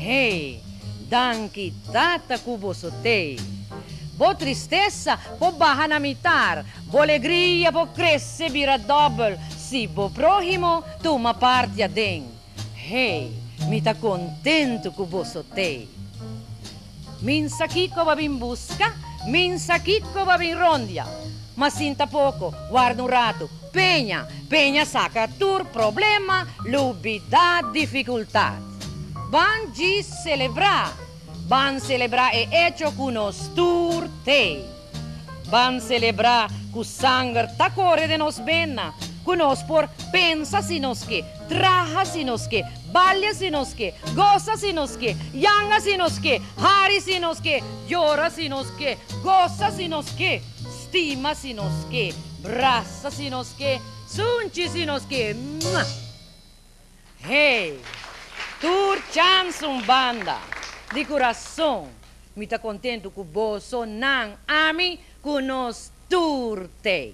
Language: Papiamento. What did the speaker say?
Hey, danki Tata ku bo so tei. Bo tristesa por baha na mi tar, bo legria por krese bira dòbel si bo próhimo tuma parti aden. Hey, mi ta kontentu ku bo so tei. Minsa kiko bo a bin buska? Minsa kiko bo a bin rondia? Ma sinta poko, warda un ratu, peña, peña saka tur problema, lubidá difikultat. Ban djis selebrá! Ban selebrá e echo ku nos tur t'ei. Ban selebrá ku sanger ta kore den nos bena, ku nos por pensa si nos ke, traha si nos ke, balia si nos ke, gosa si nos ke, yanga si nos ke, hari si nos ke, yora si nos ke, gosa si nos ke, stima si nos ke, brasa si nos ke, sunchi si nos ke. Mah! Hey! Tur chans un banda! Di kurason mi ta kontentu ku boso nan ami ku nos tur t'ei.